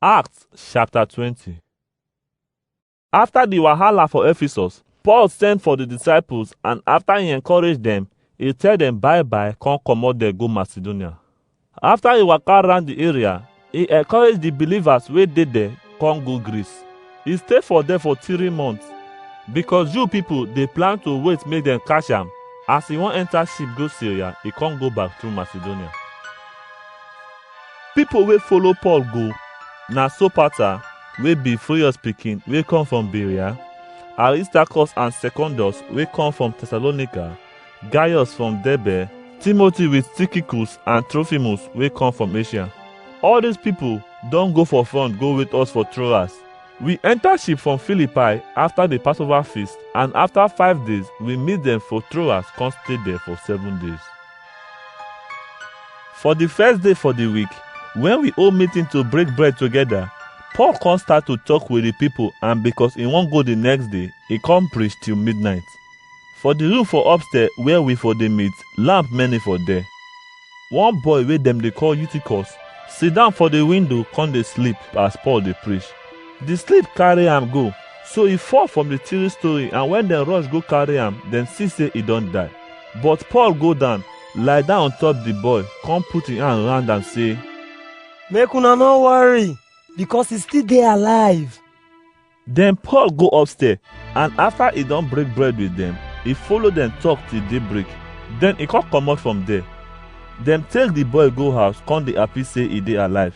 Acts chapter 20 After the wahala for Ephesus, Paul send for the disciples and after he encourage them, he tell them bye bye come comot there go Macedonia. After he waka round the area, he encourage the believers wey dey there come go Greece. He stay for there for three months because Jew people dey plan to wait make dem catch am. As he wan enter ship go Syria, he come go back through Macedonia. Pipo wey follow Paul go na Sopater wey be Furius pikin wey come from Berea, Aristarchus and Secondus wey come from Thessalonica, Gaius from Derbe, Timothy with Tychicus and Trophimus wey come from Asia. All dis pipo don go for front go wait us for Troas. We enta ship from Philippi afta di Passover feast and afta five days we meet dem for Troas con stay there for seven days. For the first day for the week, when we all meeting to break bread together, Paul come start to talk with the people and because he wan go the next day, he come preach till midnight. For the room for upstairs where we for dey meet, lamp many for there. One boy wey dem dey call Eutychus sit down for the window come dey sleep as Paul dey preach. The sleep carry am go, so he fall from the three story and when dem rush go carry am, dem see say he don die. But Paul go down, lie down on top the boy, come put him hand round am say, Make una no worry, because he still dey alive. Then Paul go upstairs, and after he don break bread with them, he follow them talk till daybreak. Then he come comot from there. Dem take the boy go house, come dey happy say he dey alive.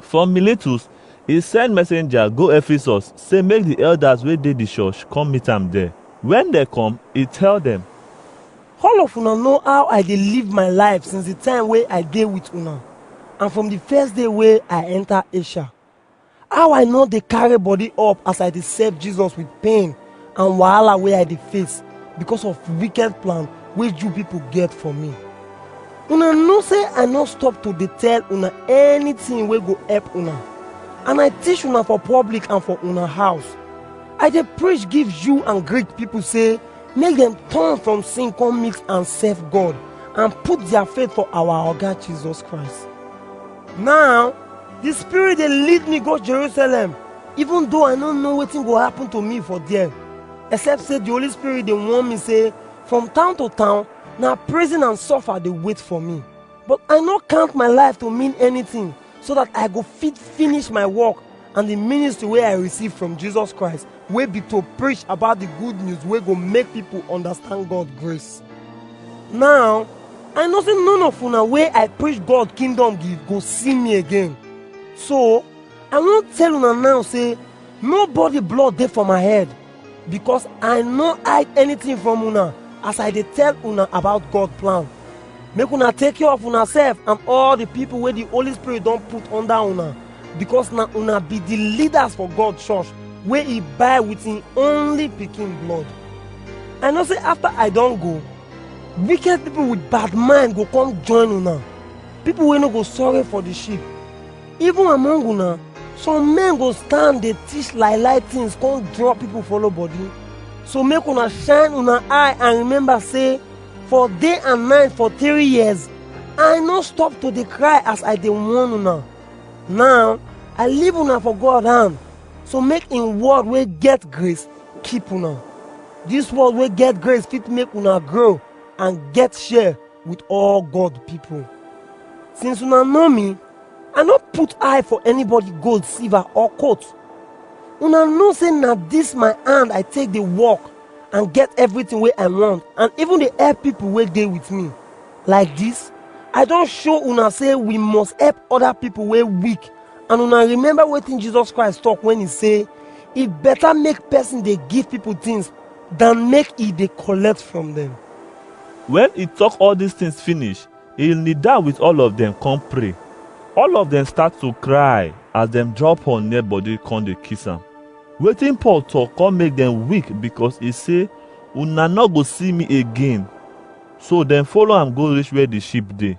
From Miletus, e send messenger go Ephesus say make the elders wey dey the church come meet am there. When they come, e tell them, All of una know how I dey live my life since the time wey I dey with una and from the first day wey I enter Asia. How I no dey carry body up as I dey serve Jesus with pain and wahala wey I dey face because of wicked plan wey Jew people get for me. Una know say I no stop to dey tell una anything wey go help una, and I teach una for public and for una house. I dey preach give Jew and Greek people say make dem turn from sin come meet and serve God and put their faith for our Oga Jesus Christ. Now, the spirit dey lead me go Jerusalem, even though I no know wetin go happen to me for there. Except say the Holy Spirit dey warn me say from town to town, na prison and suffer dey wait for me. But I no count my life to mean anything so that I go fit finish my work and the ministry wey I receive from Jesus Christ wey be to preach about the good news wey go make people understand God grace. Now, I know say none of una wey I preach God kingdom give go see me again. So, I wan tell una now say nobody blood dey for my head because I no hide anything from una as I dey tell una about God plan. Make una take care of una sef and all the people wey the Holy Spirit don put under una. because na una be the leaders for god church wey he buy with him only pikin blood i know say after i don go wicked people with bad mind go come join una people wey no go sorry for the sheep even among una some men go stand dey teach lie lie things come draw people follow body so make una shine una eye and remember say for day and night for three years i no stop to dey cry as i dey warn una Now, I leave una for God hand, so make im word wey get grace keep una. Dis word wey get grace fit make una grow and get share with all God people. Since una know me, I no put eye for anybody gold, silver or coat. Una know say na dis my hand I take dey work and get everything wey I want and even dey help people wey dey with me. Like dis, I don show una sey we must epp oda pipo wey weak and una remember wetin Jesus Christ tok wen e sey, E beta make pesin dey give pipo tins dan make e dey kollect from dem. Wen e tok all dis tins finish, e nil down wit all of dem kon pray. All of dem stat to kry as dem draw Paul near body kon dey kiss am. Wetin Paul tok kon make dem weak bikos e sey, Una nor go si mi again. So dem follow am go reach where di sheep dey.